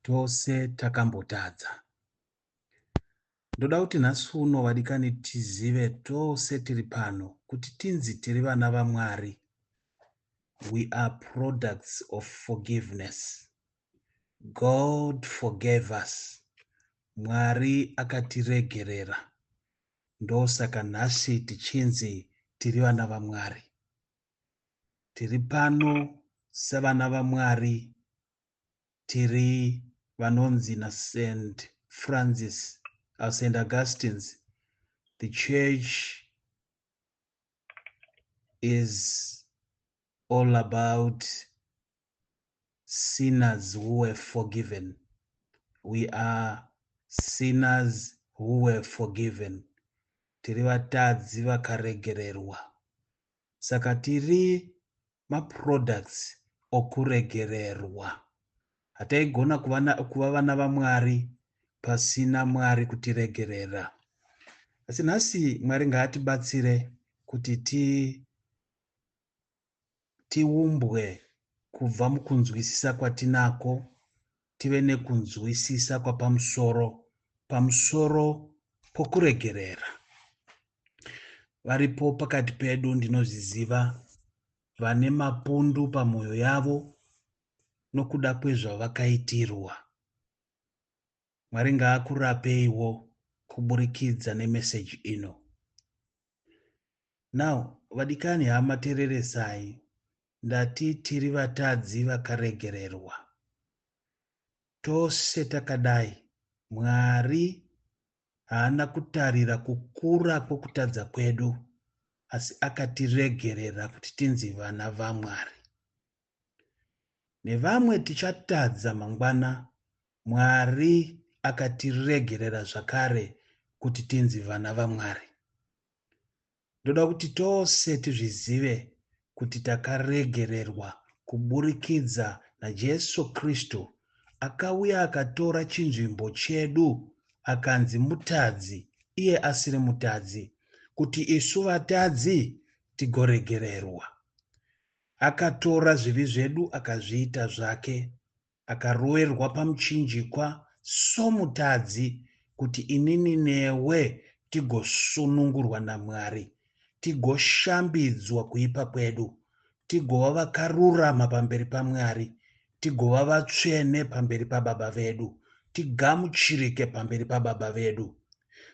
tose takambotadza ndoda kuti nhasi uno vadikani tizive tose tiri pano kuti tinzi tiri vana vamwari we are products of forgiveness god forgave us mwari akatiregerera ndosaka nhasi tichinzi tiri vana vamwari tiri pano sevana vamwari tiri vanonzi naSaint Francis or Saint Augustine's, the church is all about sinners who were forgiven. We are sinners who were forgiven. Tiri vatadzi vakaregererwa. Saka tiri maproducts okuregererwa. Hataigona kuva vana vaMwari pasina Mwari kutiregerera. Asi nhasi Mwari ngaatibatsire kuti ti tiumbwe kubva mukunzwisisa kwatinako tive nekunzwisisa kwapamusoro pamusoro pokuregerera. Varipo pakati pedu ndinozviziva vane mapundu pamwoyo yavo nokuda kwezvavakaitirwa. Mwari ngaakurapeiwo kuburikidza nemeseji ino. Now vadikani hama tereresai ndati tiri vatadzi vakaregererwa tose takadai Mwari haana kutarira kukura kwokutadza kwedu asi akatiregerera kuti tinzi vana vaMwari. Nevamwe tichatadza mangwana Mwari akatiregerera zvakare kuti tinzi vana vaMwari. Ndoda kuti tose tizvizive kuti takaregererwa kuburikidza naJesu Kristu akauya akatora chinzvimbo chedu akanzi mutadzi iye asiri mutadzi kuti isu vatadzi tigoregererwa. Akatora zvivi zvedu akazviita zvake akaroerwa pamuchinjikwa somutadzi kuti inini newe tigosunungurwa namwari tigoshambidzwa kuipa kwedu tigova vakarurama pamberi pamwari tigova vatsvene pamberi pababa vedu tigamuchirike pamberi pababa vedu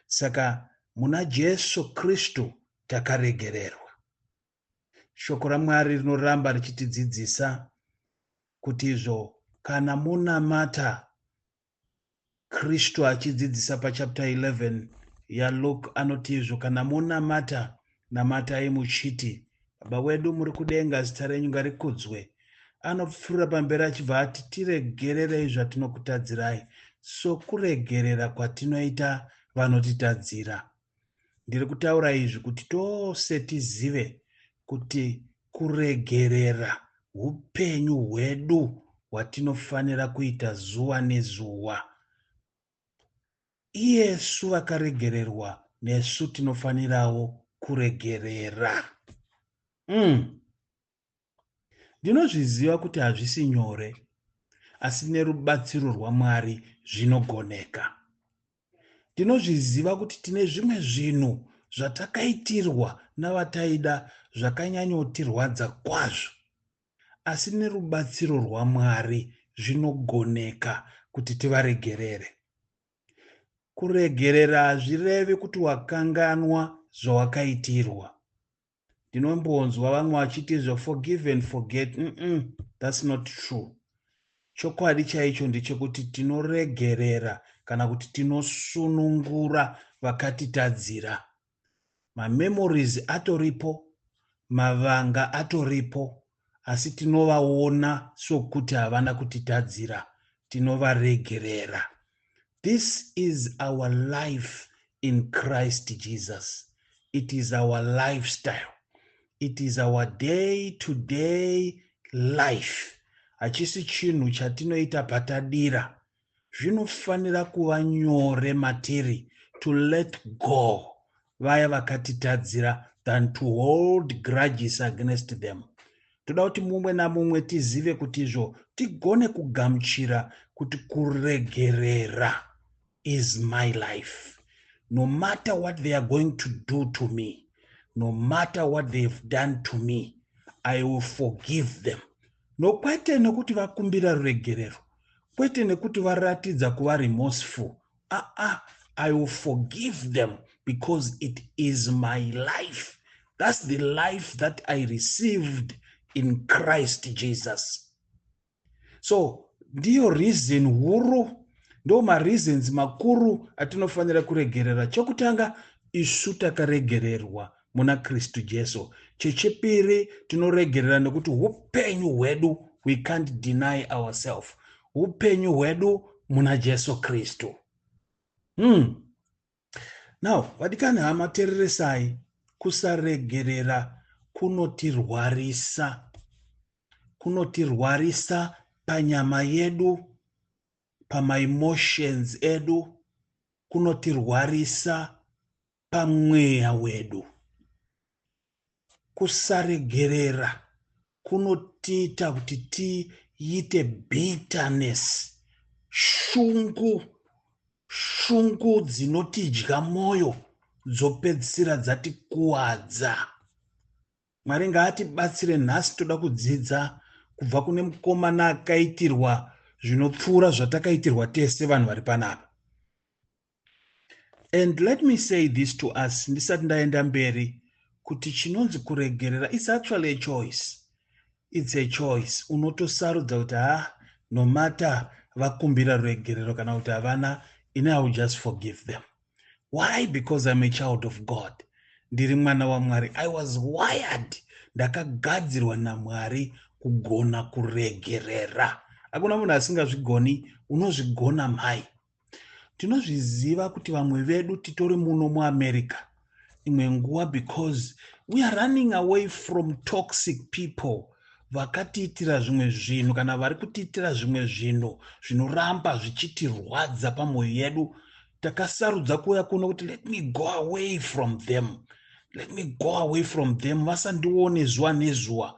saka muna jesu kristu takaregererwa Shoko raMwari rinoramba richitidzidzisa kuti izvo kana monamata Kristu achidzidzisa pachapter 11 yaLuke anoti izvo kana monamata namatai muchiti baba wedu muri kudenga zita renyu ngarikudzwe anopfuura pamberi achibva ati tiregererei zvatinokutadzirai sokuregerera kwatinoita vanotitadzira Ndiri kutaura izvi kuti tose tizive kuti kuregerera upenyu hwedu hwatinofanira kuita zuva nezuva. Iyesu vakaregererwa nesu tinofanirawo kuregerera. Mm. Ndinozviziva kuti hazvisi nyore, asi nerubatsiro rwaMwari zvinogoneka. Ndinozviziva kuti tine zvimwe zvinhu zvatakaitirwa navataida zvakanyanyotirwadza kwazvo, asi nerubatsiro rwaMwari zvinogoneka kuti tivaregerere. Kuregerera hazvirevi kuti wakanganwa zvawakaitirwa. ndinombonzwa vamwe vachiti izvo forgive and forget mm -mm, thats not true chokwadi chaicho ndechekuti tinoregerera kana kuti tinosunungura vakatitadzira mamemories atoripo mavanga atoripo asi tinovaona sokuti havana kutitadzira, tinovaregerera. This is our life in Christ Jesus. It is our lifestyle. It is our day to day life. Hachisi chinhu chatinoita patadira, zvinofanira kuva nyore matiri to let go vaya vakatitadzira than to hold grudges against them toda kuti mumwe namumwe tizive kuti izvo tigone kugamuchira kuti kuregerera is my life no matter what they are going to do to me no matter what they have done to me i will forgive them No kwete nekuti vakumbira ruregerero. Kwete nekuti varatidza kuva remorseful. Ah ah, I will forgive them because it is my life. That's the life that I received in Christ Jesus. So ndiyo reason huru ndo mareasons makuru atinofanira kuregerera chokutanga isu takaregererwa muna kristu jesu chechipiri tinoregerera nekuti upenyu hwedu we can't deny ourselves upenyu hwedu muna jesu kristu hmm. now vadikani hama tereresai kusaregerera kunotirwarisa kunotirwarisa panyama yedu pamaemotions edu kunotirwarisa pamweya wedu. Kusaregerera kunotiita kuti tiite bitterness, shungu, shungu dzinotidya mwoyo dzopedzisira dzatikuwadza. Mwari ngaatibatsire nhasi toda kudzidza kubva kune mukomana akaitirwa zvinopfuura zvatakaitirwa tese vanhu vari panapa And let me say this to us ndisati ndaenda mberi kuti chinonzi kuregerera is actually a choice its a choice unotosarudza kuti ha ah, nomata vakumbira ruregerero kana kuti havana ini i will just forgive them why because im a child of god ndiri mwana wamwari i was wired ndakagadzirwa namwari kugona kuregerera hakuna munhu asingazvigoni unozvigona mhai tinozviziva kuti vamwe vedu titori muno muamerica imwe nguva because we are running away from toxic people vakatiitira zvimwe zvinhu kana vari kutiitira zvimwe zvinhu zvinoramba zvichitirwadza pamwoyo yedu takasarudza kuuya kuno kuti let me go away from them let me go away from them vasandione zuva nezuva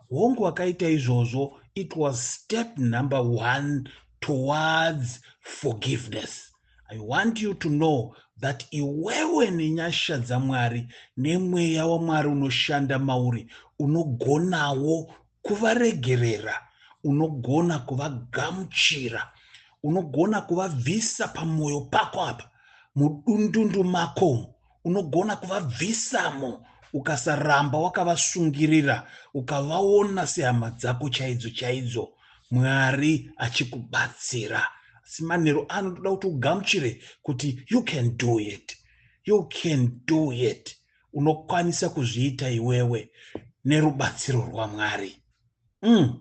hongu vakaita izvozvo it was step number one towards forgiveness i want you to know that iwewe nenyasha dzamwari nemweya wamwari unoshanda mauri unogonawo kuvaregerera unogona kuvagamuchira unogona kuvabvisa pamwoyo pako apa mudundundu mako unogona kuvabvisamo ukasaramba wakavasungirira ukavaona sehama dzako chaidzo chaidzo mwari achikubatsira asi manheru ano toda kuti ugamuchire kuti you can do it you can do it unokwanisa kuzviita iwewe nerubatsiro rwamwari mm.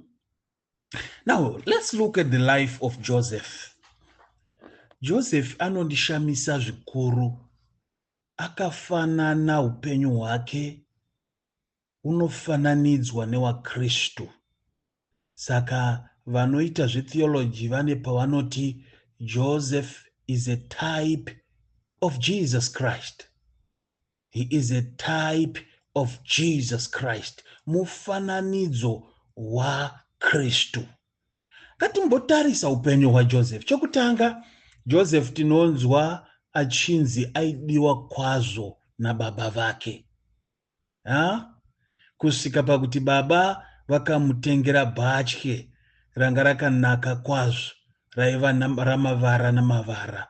now let's look at the life of joseph joseph anondishamisa zvikuru akafanana upenyu hwake unofananidzwa newakristu saka vanoita zvetheology vane pavanoti joseph is a type of jesus christ He is a type of Jesus Christ, mufananidzo waKristu. Ngatimbotarisa upenyu hwaJoseph. Chokutanga, Joseph tinonzwa achinzi aidiwa kwazvo nababa vake ha? kusvika pakuti baba vakamutengera bhatye ranga rakanaka kwazvo raiva ramavara namavara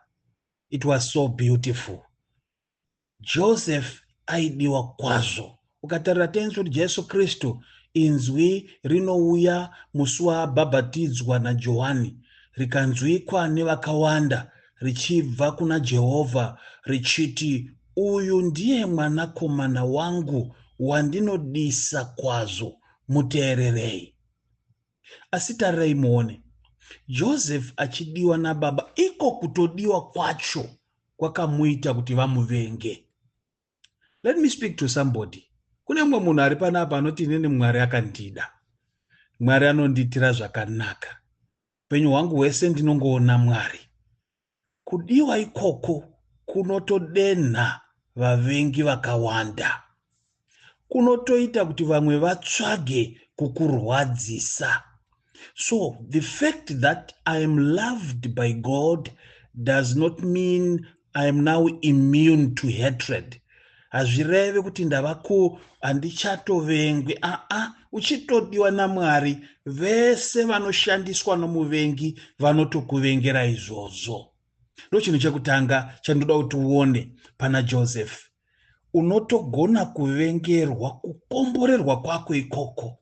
it was so beautiful Joseph aidiwa kwazvo. Ukatarira tenzi kuti Jesu Kristu inzwi rinouya musi waabhabhatidzwa naJohani rikanzwikwa nevakawanda richibva kuna Jehovha richiti, Uyu ndiye mwanakomana wangu wandinodisa kwazvo, muteererei. Asi tarirai muone, Joseph achidiwa nababa, iko kutodiwa kwacho kwakamuita kuti vamuvenge. Let me speak to somebody. Kune mumwe munhu ari panapa anoti inini Mwari akandida. Mwari anondiitira zvakanaka. Upenyu hwangu hwese ndinongoona Mwari. Kudiwa ikoko kunotodenha vavengi vakawanda. Kunotoita kuti vamwe vatsvage kukurwadzisa. So the fact that I am loved by God does not mean I am now immune to hatred. hazvireve kuti ndava ku handichatovengwi aa uchitodiwa namwari vese vanoshandiswa nomuvengi vanotokuvengera izvozvo ndochinhu chekutanga chandoda kuti uone pana joseph unotogona kuvengerwa kukomborerwa kwako ikoko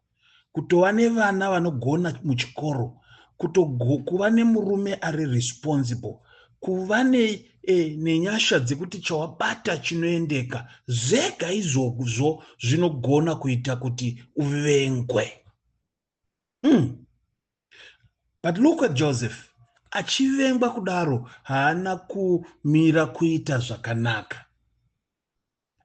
kutova nevana vanogona muchikoro kutokuva nemurume ari responsible kuva ne, e, nenyasha dzekuti chawabata chinoendeka zvega izvozvo zvinogona kuita kuti uvengwe mm. but look at joseph achivengwa kudaro haana kumira kuita zvakanaka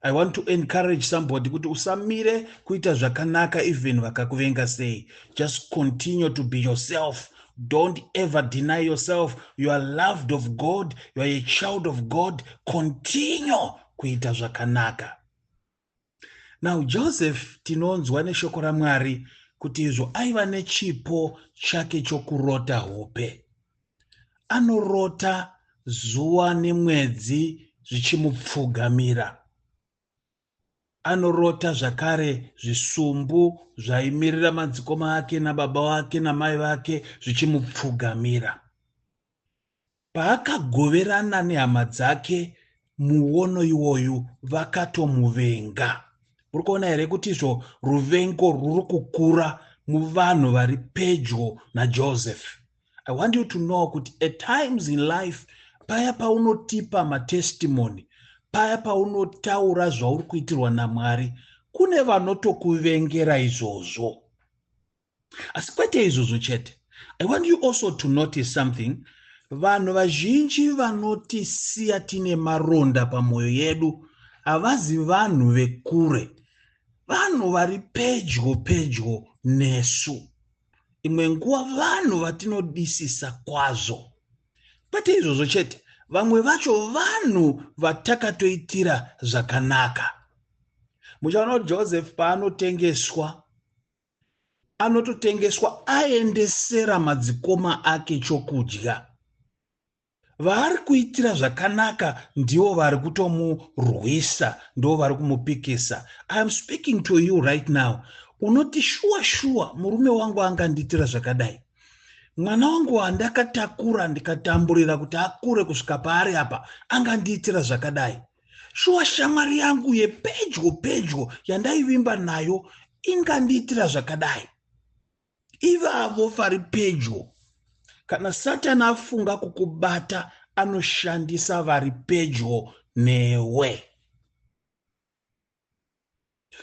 I want to encourage somebody kuti usamire kuita zvakanaka even vakakuvenga sei. Just continue to be yourself. Don't ever deny yourself. You are loved of God. You are a child of God. Continue kuita zvakanaka. Now Joseph tinonzwa neshoko raMwari kuti izvo aiva nechipo chake chokurota hope. anorota zuva nemwedzi zvichimupfugamira. Anorota zvakare zvisumbu zvaimirira madzikoma ake nababa vake namai vake zvichimupfugamira. Paakagoverana nehama dzake muono iwoyu vakatomuvenga. Muri kuona here kuti izvo ruvengo ruri kukura muvanhu vari pedyo naJoseph? i want you to know kuti at times in life paya paunotipa matestimony paya paunotaura zvauri kuitirwa namwari kune vanotokuvengera izvozvo asi kwete izvozvo chete i want you also to notice something vanhu vazhinji vanotisiya tine maronda pamwoyo yedu havazi vanhu vekure vanhu vari pedyo pedyo nesu imwe nguva vanhu vatinodisisa kwazvo kwete izvozvo chete vamwe vacho vanhu vatakatoitira zvakanaka muchaona kuti joseph paanotengeswa anototengeswa aendesera madzikoma ake chokudya vaari kuitira zvakanaka ndivo vari kutomurwisa ndo vari kumupikisa iam speaking to you right now unoti shuwa shuwa murume wangu angandiitira zvakadai mwana wangu wandakatakura ndikatamburira kuti akure kusvika paari apa angandiitira zvakadai shuwa shamwari yangu yepedyo pedyo yandaivimba nayo ingandiitira zvakadai ivavo vari pedyo. Kana Satani afunga kukubata, anoshandisa vari pedyo newe.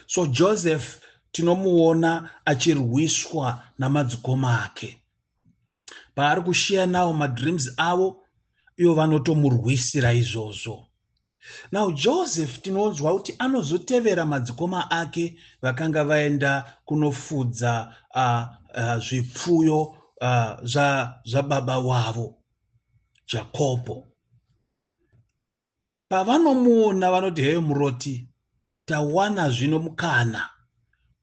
So Joseph tinomuona achirwiswa namadzikoma ake. paari kushiya nawo madreams avo ivo vanotomurwisira izvozvo now joseph tinonzwa kuti anozotevera madzikoma ake vakanga vaenda kunofudza uh, uh, zvipfuyo uh, zvababa wavo jakobho Pavanomuona vanoti heyo muroti, tawana zvino mukana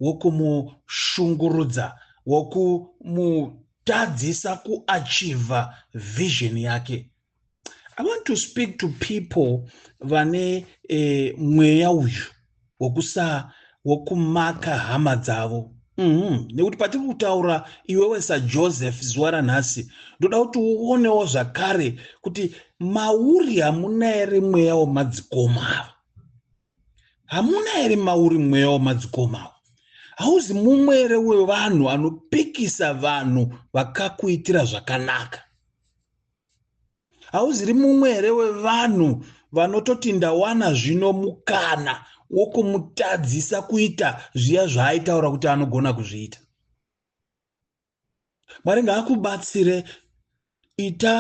wokumushungurudza, wokumutadzisa kuachiva vision yake. I want to speak to people vane eh, mweya uyu wokusaa wokumaka hama dzavo mm-hmm. nekuti patiri kutaura iwewe sajoseph zuva ranhasi ndoda kuti uonewo zvakare kuti mauri hamuna here mweya wemadzikoma ava hamuna here mauri mweya wemadzikoma ava hauzi mumwe here wevanhu anopikisa vanhu vakakuitira zvakanaka hauziri mumwe here wevanhu vanototi ndawana zvino mukana wokumutadzisa kuita zviya zvaaitaura kuti anogona kuzviita mwari ngaakubatsire ita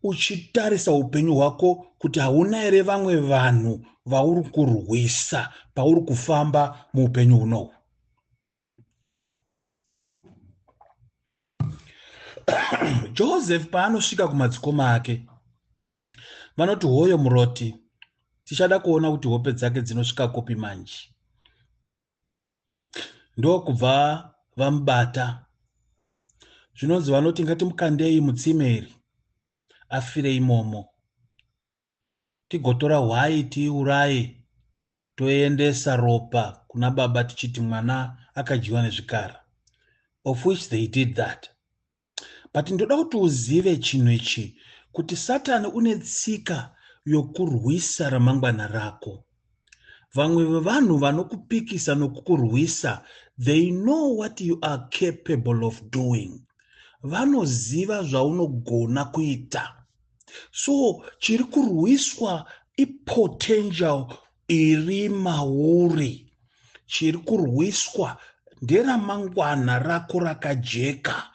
uchitarisa upenyu hwako kuti hauna here vamwe vanhu vauri kurwisa pauri kufamba muupenyu hunohu joseph paanosvika kumadzikoma ake vanoti hoyo muroti tichada kuona kuti hope dzake dzinosvika kupi manje ndokubva vamubata zvinonzi vanoti ngatimukandei mutsime iri afire imomo Tigotora hwai tiiuraye toendesa ropa kuna baba tichiti mwana akadyiwa nezvikara of which they did that. But ndoda kuti uzive chinhu ichi kuti Satan une tsika yokurwisa ramangwana rako. vamwe vevanhu vanokupikisa nokukurwisa they know what you are capable of doing vanoziva zvaunogona kuita so chiri kurwiswa ipotential iri mauri chiri kurwiswa nderamangwana rako rakajeka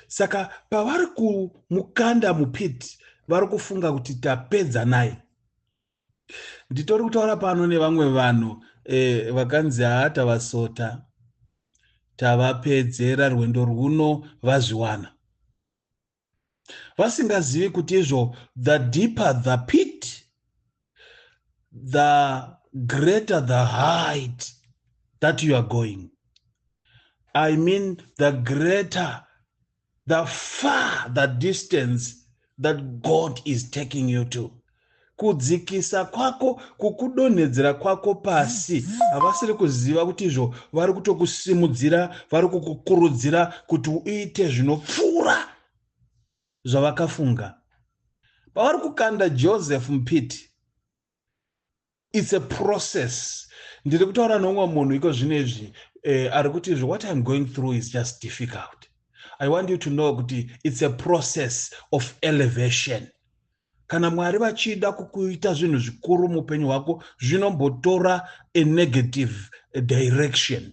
saka pavari kumukanda mupit vari kufunga kuti tapedza naye nditori kutaura pano nevamwe vanhu eh, vakanzi haa tavasota tavapedzera rwendo rwuno vazviwana vasingazivi kuti izvo the deeper the pit the greater the height that you are going i mean the greater the far the distance that god is taking you to kudzikisa kwako kukudonhedzera kwako pasi havasiri kuziva kuti izvo vari kutokusimudzira vari kukukurudzira kuti uite zvinopfuura zvavakafunga pavari kukanda Joseph mupiti it's a process ndiri kutaura neumwe munhu iko zvino izvi eh, ari kuti izvi what iam going through is just difficult i want you to know kuti it's a process of elevation kana mwari vachida kukuita zvinhu zvikuru muupenyu hwako zvinombotora a negative direction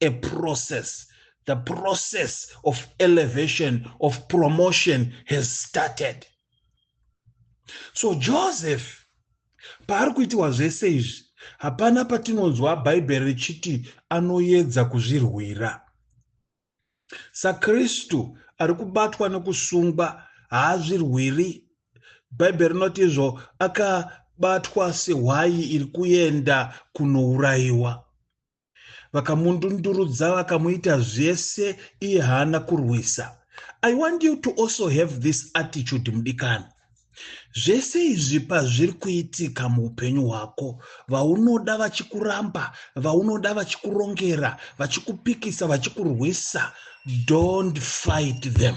a process the process of elevation of promotion has started so joseph paari kuitiwa zvese izvi hapana patinonzwa bhaibheri richiti anoedza kuzvirwira sakristu ari kubatwa nekusungwa haazvirwiri bhaibheri rinoti izvo akabatwa sehwayi iri kuenda kunourayiwa vakamundundurudza vakamuita zvese iye haana kurwisa i want you to also have this attitude mudikani zvese izvi pazviri kuitika muupenyu hwako vaunoda vachikuramba vaunoda vachikurongera vachikupikisa vachikurwisa don't fight them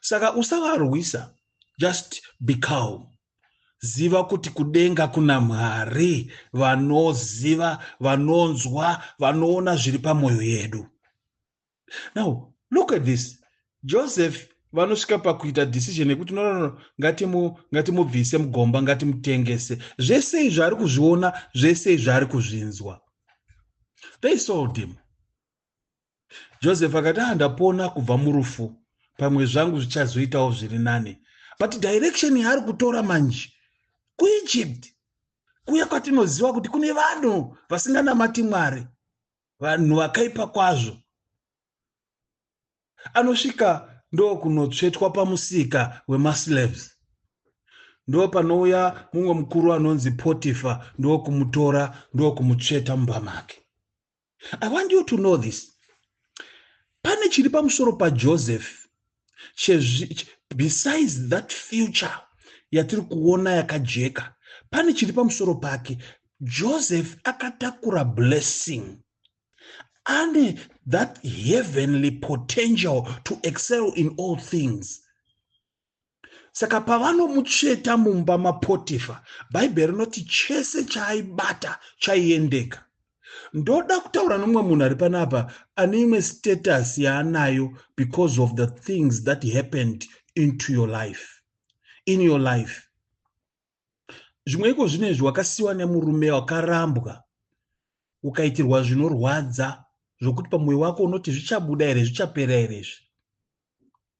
saka usavarwisa just be calm ziva kuti kudenga kuna mwari vanoziva vanonzwa vanoona zviri pamwoyo yedu now look at this joseph vanosvika pakuita decision yekuti no no no ngatimubvise ngati mugomba ngatimutengese zvese izvi ari kuzviona zvese izvi ari kuzvinzwa they sold him Joseph akati ah ndapona kubva murufu pamwe zvangu zvichazoitawo zviri nani but direction yaari kutora manje kuegypt kuya kwatinoziva kuti kune vanhu vasinganamati mwari vanhu vakaipa kwazvo anosvika ndokunotsvetwa pamusika wemaslaves ndo panouya mumwe mukuru anonzi potifa ndokumutora ndokumutsveta mumba make I want you to know this. Pane chiri pamusoro paJoseph besides that future yatiri kuona yakajeka pane chiri pamusoro pake joseph akatakura blessing ane that heavenly potential to excel in all things saka pavanomutsveta mumba mapotifa bhaibheri rinoti chese chaaibata chaiendeka ndoda kutaura nomwe munhu ari panapa ane imwe status yaanayo because of the things that happened into your life in your life zvimwe iko zvino izvi wakasiwa nemurume wakarambwa ukaitirwa zvinorwadza zvokuti pamwoyo wako unoti zvichabuda here zvichapera here izvi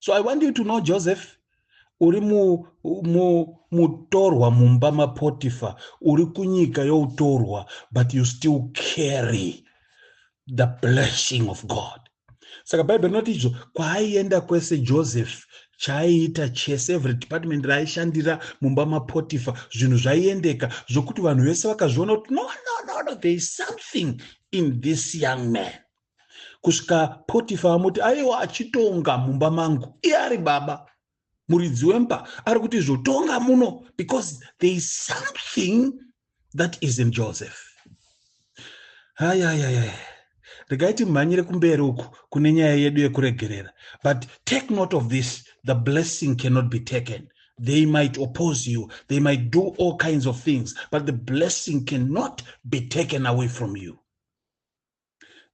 so i want you to know joseph uri mutorwa mu, mu mumba mapotifa uri kunyika youtorwa but you still carry the blessing of god saka bhaibheri rinoti izvo kwaaienda kwese joseph chaaiita chese every department raaishandira mumba mapotifa zvinhu zvaiendeka zvokuti vanhu vese vakazviona kuti no no no no there is something in this young man kusvika potifa amuti aiwa achitonga mumba mangu iye ari baba muridzi wemba ari kuti zvotonga muno because there is something that is in joseph hayayaya regai timhanyire kumberi uku kune nyaya yedu yekuregerera but take note of this the blessing cannot be taken they might oppose you they might do all kinds of things but the blessing cannot be taken away from you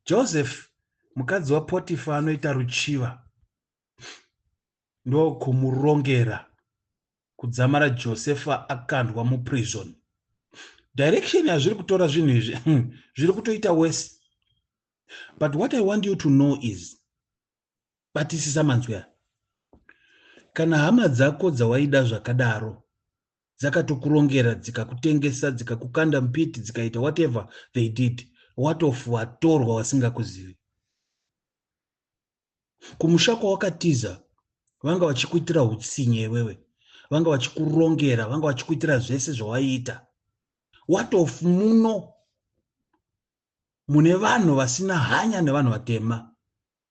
Joseph mukadzi waPotifa anoita ruchiva ndokumurongera kudzamara Josefa akandwa muprison. Direction yazviri kutora zvinhu izvi hmm, zviri kutoita worse. But what I want you to know is batisisa manzwi aya. Kana hama dzako dzawaida zvakadaro dzakatokurongera dzikakutengesa dzikakukanda mupiti dzikaita whatever they did watof watorwa wasingakuzivi kumusha kwawakatiza vanga vachikuitira utsinye iwewe vanga vachikurongera vanga vachikuitira zvese zvawaiita watof muno mune vanhu vasina hanya nevanhu vatema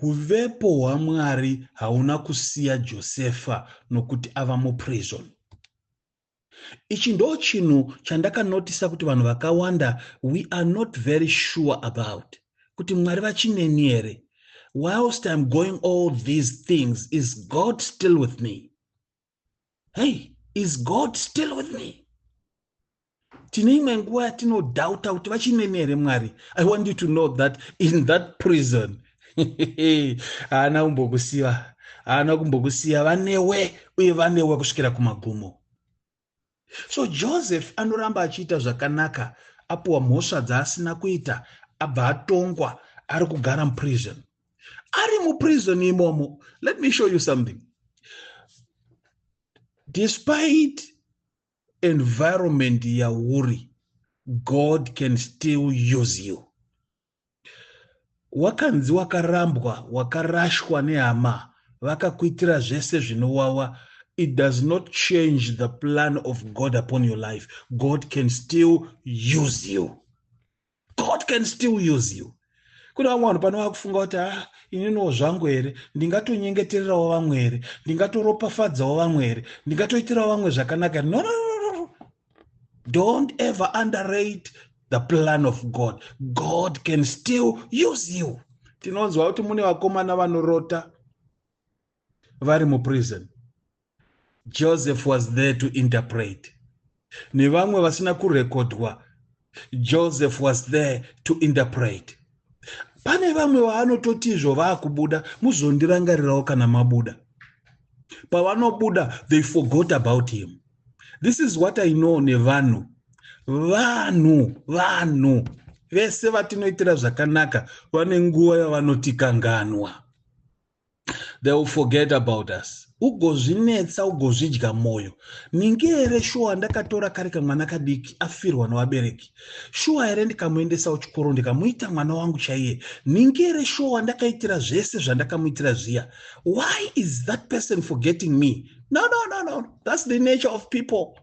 Huvepo hwaMwari hauna kusiya Josefa nokuti ava muprison. Ichi ndo chinhu chandakanotisa kuti vanhu vakawanda we are not very sure about kuti Mwari vachineni here. Whilst I'm going all these things, is God still with me? hei is god still with me tine imwe nguva yatinodhauta kuti vachineni here mwari i want you to know that in that prison haana kumbokusiva haana kumbokusiya vanewe uye vanewe kusvikira kumagumo So Joseph anoramba achiita zvakanaka apuwa mhosva dzaasina kuita abva atongwa ari kugara muprison. Ari muprison imomo, let me show you something. Despite environment yauri, God can still use you. wakanzi wakarambwa wakarashwa nehama vakakuitira zvese zvinowawa it does not change the plan of god upon your life god can still use you god can still use you kune vamwe vanhu pane vakufunga kuti a ah, ininiwo zvangu here ndingatonyengetererawo vamwe here ndingatoropafadzawo vamwe here ndingatoitirawo vamwe zvakanaka no, no, no, no. don't ever underrate the plan of god god can still use you tinonzwa kuti mune vakomana vanorota vari muprison joseph was there to interpret nevamwe vasina kurekodwa joseph was there to interpret pane vamwe vaanototi izvo vaakubuda muzondirangarirawo kana mabuda pavanobuda they forgot about him this is what i know nevanhu vanhu vanhu vese vatinoitira zvakanaka vane nguva yavanotikanganwa they will forget about us ugozvinetsa ugozvidya mwoyo ningi here shuwa ndakatora kari kamwana kadiki afirwa nevabereki shuwa here ndikamuendesawo chikoro ndikamuita mwana wangu chaiye ningi here shuwa ndakaitira zvese zvandakamuitira zviya why is that person forgetting me no no no no that's the nature of people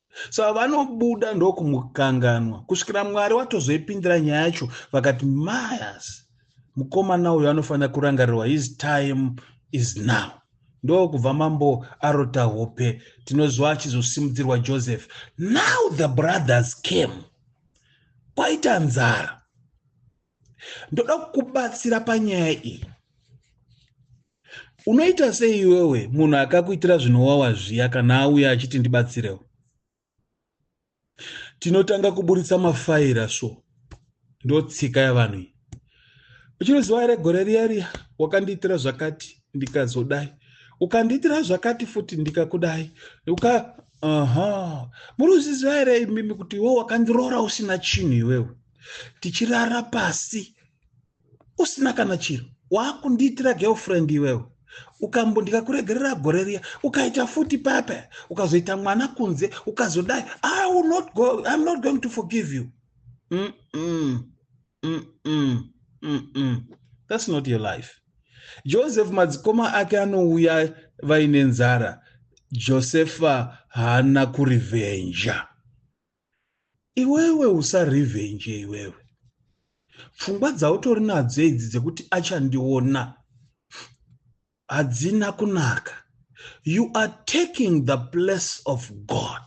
saka vanobuda ndokumukanganwa kusvikira mwari watozoipindira nyaya yacho vakati mayas mukomana uyo anofanira kurangarirwa his time is now ndokubva mambo arota hope tinoziva achizosimudzirwa joseph now the brothers came kwaita nzara ndoda kukubatsira panyaya iyi unoita sei iwewe munhu akakuitira zvinowawa zviya kana auya achiti ndibatsirewo tinotanga kuburitsa mafaira so ndotsika yavanhu iyi uchinoziva here gore riya riya wakandiitira zvakati ndikazodai ukandiitira zvakati futi ndikakudai uka aha muri uziziva here imimi kuti iwewe wakandiroora usina chinhu iwewe tichirara pasi usina kana chiro waakundiitira girlfriend iwewe ukambo ndikakuregerera gore riya ukaita futi papa ukazoita mwana kunze ukazodai i will not go i'm not going to forgive you mm -mm. Mm -mm. Mm -mm. that's not your life joseph madzikoma ake anouya vaine nzara josefa haana kurivenja Iwewe usa revenge iwewe. Pfungwa dzautori nadzo idzi dzekuti achandiona hadzina kunaka. You are taking the place of God.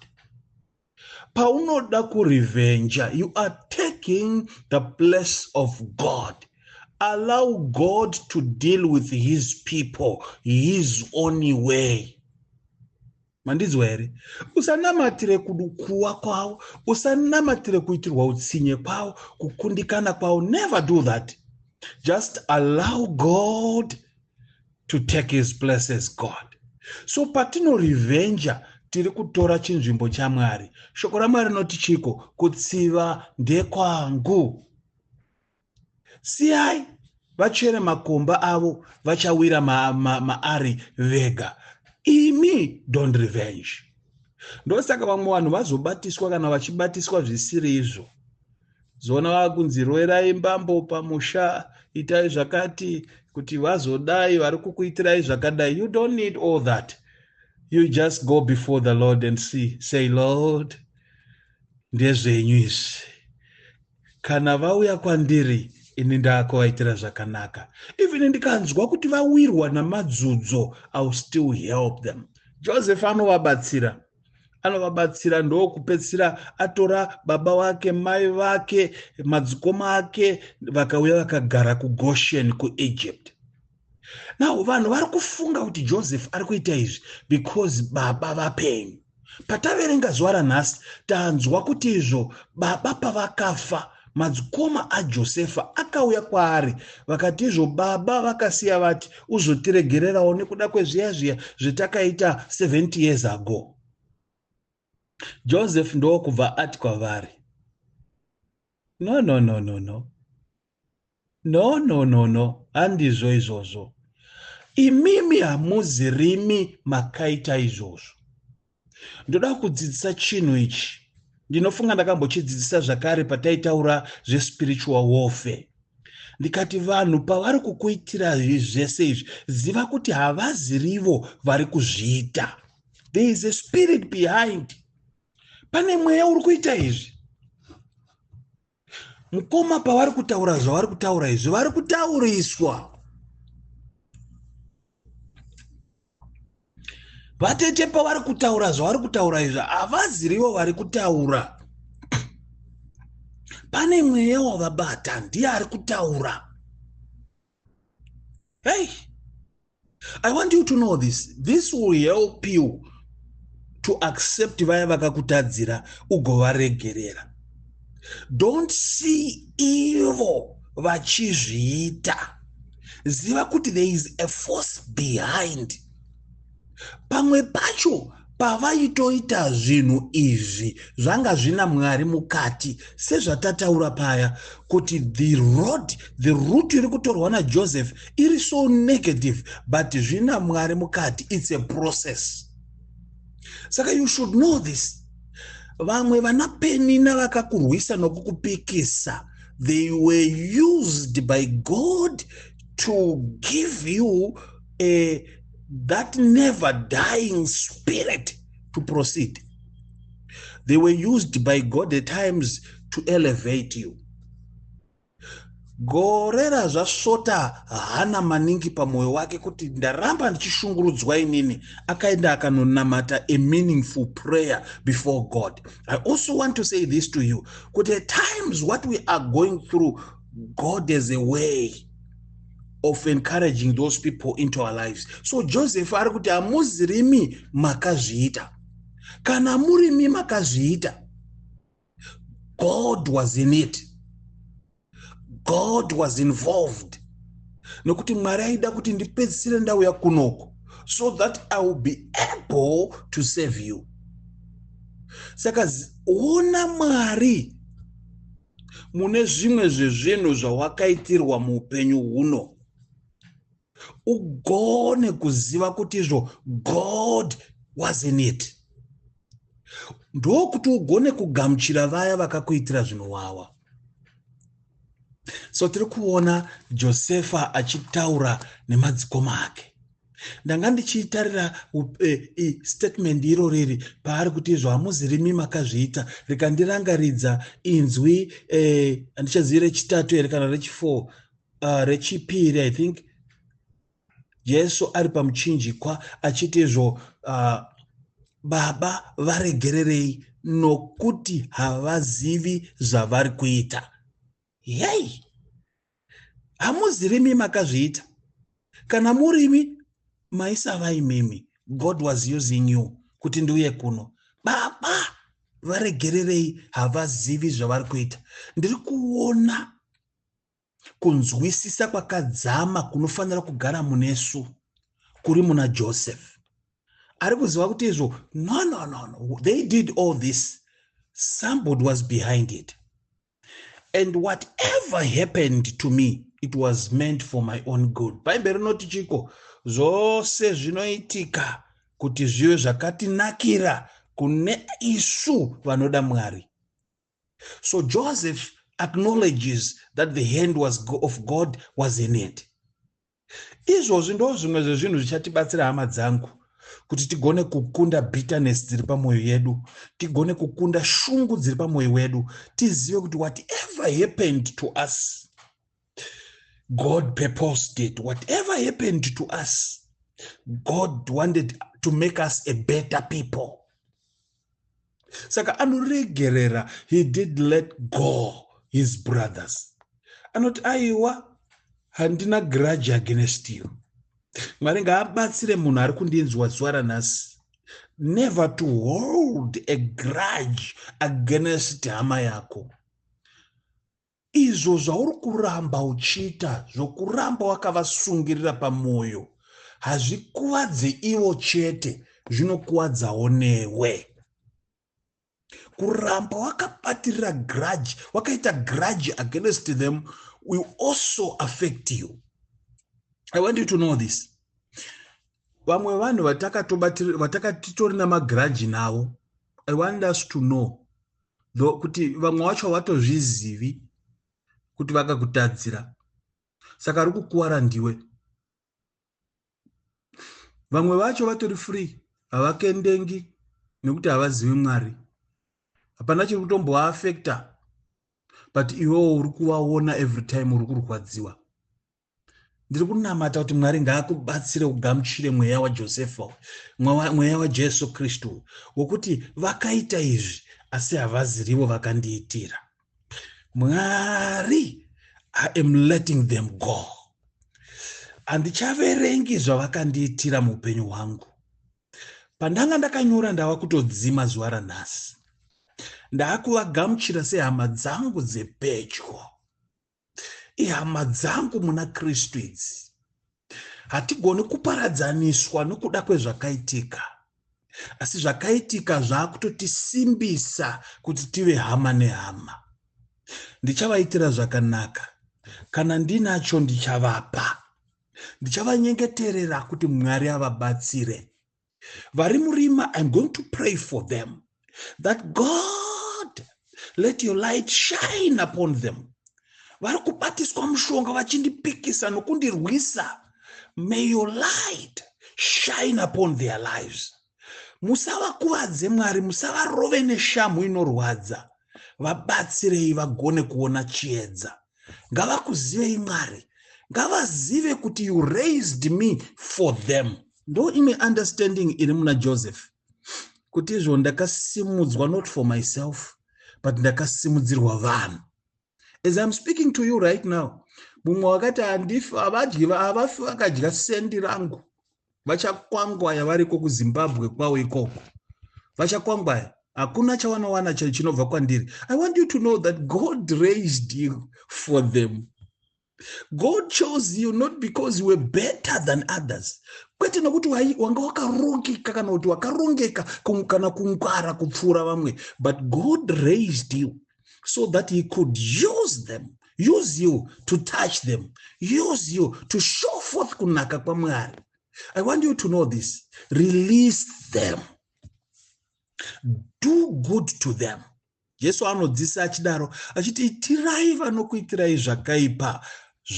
Paunoda kurevenge, you are taking the place of God. Allow God to deal with his people his own way. mandinzwa here usanamatire kudukuwa kwavo usanamatire kuitirwa utsinye kwavo kukundikana kwavo never do that just allow god to take his places god so patinorevenja tiri kutora chinzvimbo chamwari shoko ramwari rinoti chiko kutsiva ndekwangu siyai vachere makomba avo vachawira maari ma, ma vega imi don't revenge ndosaka vamwe vanhu vazobatiswa kana vachibatiswa zvisiri izvo zoona vava kunzi roerai mbambo pamusha itai zvakati kuti vazodai vari kukuitirai zvakadai you don't need all that you just go before the lord and see say lord ndezvenyu izvi kana vauya kwandiri ini ndaakuvaitira zvakanaka even ndikanzwa kuti vawirwa namadzudzo iwill still help them joseph anovabatsira anovabatsira ndokupedzisira atora baba wake mai vake madzikoma ake vakauya vakagara kugoshen kuegypt now vanhu vari kufunga kuti joseph ari kuita izvi because baba vapenyu pataverenga zuva ranhasi tanzwa kuti izvo baba pavakafa madzikoma ajosefa akauya kwaari vakati izvo baba vakasiya vati uzotiregererawo nekuda kwezviya zviya zvetakaita 70 years ago Joseph ndokubva ati kwavari, No, no, no, no, no. No, no, no, no. Handizvo izvozvo. Imimi hamuzi rimi makaita izvozvo. Ndoda kudzidzisa chinhu ichi. Ndinofunga ndakambochidzidzisa zvakare pataitaura zvespiritual warfare. Ndikati vanhu pavari kukuitira zvese izvi, ziva kuti havazirivo vari kuzviita. there is a spirit behind pane mweya uri kuita izvi mukoma pavari kutaura zvavari kutaura izvi vari kutauriswa vatete pavari kutaura zvavari kutaura izvi havazirivo vari kutaura pane mweya wavabata ndiye ari kutaura hey i want you to know this this will help you to accept vaya vakakutadzira ugovaregerera don't see ivo vachizviita ziva kuti there is a force behind pamwe pacho pavaitoita zvinhu izvi zvanga zvina mwari mukati sezvatataura paya kuti the road the root iri kutorwa najoseph iri so negative but zvina mwari mukati its a process saka you should know this vamwe vana penina vakakurwisa nokukupikisa they were used by god to give you uh, that never dying spirit to proceed they were used by god at times to elevate you gore razvasvota hana maningi pamwoyo wake kuti ndaramba ndichishungurudzwa inini akaenda akanonamata a meaningful prayer before god i also want to say this to you kuti at times what we are going through god has a way of encouraging those people into our lives so joseph ari kuti hamuzirimi makazviita kana murimi makazviita god was in it god was involved nokuti mwari aida kuti ndipedzisire ndauya kunoko so that i will be able to save you saka ona mwari mune zvimwe zvezvinhu zvawakaitirwa muupenyu huno ugone kuziva kuti izvo god was in it ndokuti ugone kugamuchira vaya vakakuitira zvinowawa so tiri kuona josefa achitaura nemadzikoma ake ndanga ndichiitarira eh, statement iro riri paari kuti izvo hamuzirimi makazviita rikandirangaridza inzwi eh, handichazivi rechitatu here kana rechifour ah, rechipiri i think jesu ari pamuchinjikwa achiti izvo ah, baba varegererei nokuti havazivi zvavari kuita yei hamuzivi imi makazviita kana muri imi maisava imimi god was using you kuti ndiuye kuno baba varegererei havazivi zvavari kuita ndiri kuona kunzwisisa kwakadzama kunofanira kugara munesu kuri muna joseph ari kuziva kuti izvo no no no no they did all this somebody was behind it and whatever happened to me it was meant for my own good bhaibheri rinoti chiko zvose zvinoitika kuti zvive zvakatinakira kune isu vanoda mwari so joseph acknowledges that the hand was of god was in it izvozvi ndo zvimwe zvezvinhu zvichatibatsira hama dzangu kuti tigone kukunda bitterness dziri pamwoyo yedu tigone kukunda shungu dziri pamwoyo wedu tizive kuti whatever happened to us god purposed it whatever happened to us god wanted to make us a better people saka anoregerera he did let go his brothers anoti aiwa handina grudge against you mwari ngaabatsire munhu ari kundinzwa zuva ranhasi never to hold a grudge against hama yako Izvo zvauri kuramba uchiita zvokuramba wakavasungirira pamwoyo hazvikuvadze ivo chete, zvinokuvadzawo newe. Kuramba wakabatirira grudge, wakaita grudge against them will also affect you. I want you to know this. Vamwe vanhu vatakatobatirira vatakatitori namagrudge navo, I want us to know no kuti vamwe wacho havatozvizivi kuti vakakutadzira saka ari kukuvara ndiwe vamwe vacho vatori free havakendengi nekuti havazivi mwari hapana chiri kutomboaafekta but iwewo uri kuvaona every time uri kurwadziwa ndiri kunamata kuti mwari ngaakubatsire ugamuchire mweya wajosefa mweya wajesu kristu wokuti vakaita izvi asi havazirivo vakandiitira mwari i am letting them go handichaverengi zvavakandiitira muupenyu hwangu pandanga ndakanyora ndava kutodzima zuva ranhasi ndaakuvagamuchira sehama dzangu dzepedyo ihama dzangu muna kristu idzi hatigoni kuparadzaniswa nokuda kwezvakaitika asi zvakaitika zvaakutotisimbisa kuti tive hama nehama ndichavaitira zvakanaka kana ndinacho ndichavapa ndichavanyengeterera kuti mwari avabatsire vari murima iam going to pray for them that god let your light shine upon them vari kubatiswa mushonga vachindipikisa nokundirwisa may your light shine upon their lives musavakuvadze mwari musavarove neshamhu inorwadza vabatsirei vagone kuona chiedza ngavakuzivei mwari ngavazive kuti you raised me for them ndo imwe understanding iri muna joseph kuti izvo ndakasimudzwa not for myself but ndakasimudzirwa vanhu as iam speaking to you right now mumwe wakati handifi havadyi havafi vakadya sendi rangu vachakwangwaya variko kuzimbabwe kwavo ikoko vachakwangwaya hakuna chavanowana chinobva kwandiri i want you to know that god raised you for them god chose you not because you were better than others kwete nokuti wanga wakarongeka kana kuti wakarongeka kana kungwara kupfuura vamwe but god raised you so that he could use them use you to touch them use you to show forth kunaka kwamwari i want you to know this release them do good to them jesu anodzisa achidaro achiti itirai vanokuitirai zvakaipa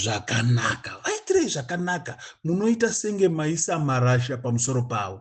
zvakanaka vaitirei zvakanaka munoita senge maisa marasha pamusoro pavo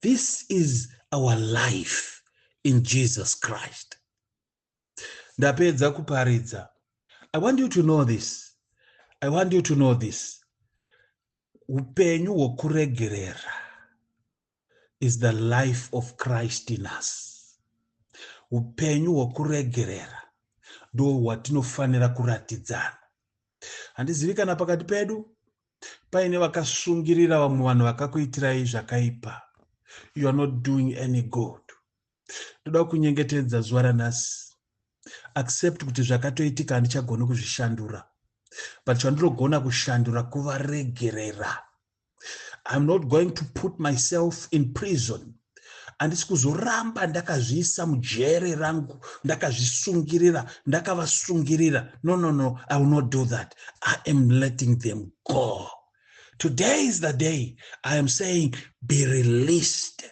this is our life in jesus christ ndapedza kuparidza i want you to know this i want you to know this upenyu hwokuregerera is the life of christ in us upenyu hwokuregerera ndo hwatinofanira kuratidzana handizivi kana pakati pedu paine vakasungirira vamwe vanhu vakakuitirai zvakaipa you are not doing any good ndoda kunyengetedza zuva ranhasi accept kuti zvakatoitika handichagoni kuzvishandura but chandinogona kushandura kuvaregerera iam not going to put myself in prison handisi kuzoramba ndakazviisa mujere rangu ndakazvisungirira ndakavasungirira no no no i will not do that i am letting them go today is the day i am saying be released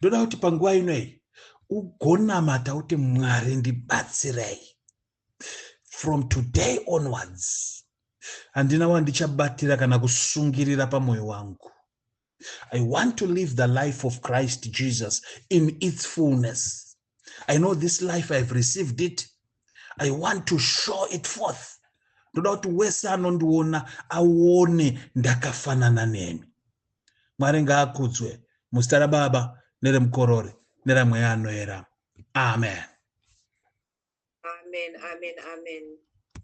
ndoda kuti panguva ino iyi ugonamata kuti mwari ndibatsirei from today onwards handina wandichabatira kana kusungirira pamwoyo wangu I want to live the life of Christ Jesus in its fullness. I know this life, I've received it. I want to show it forth. ndoda kuti wese anondiona aone ndakafanana nemi mwari ngaakudzwe muzita rababa neremukorori neramweya anoera amen amen amen amen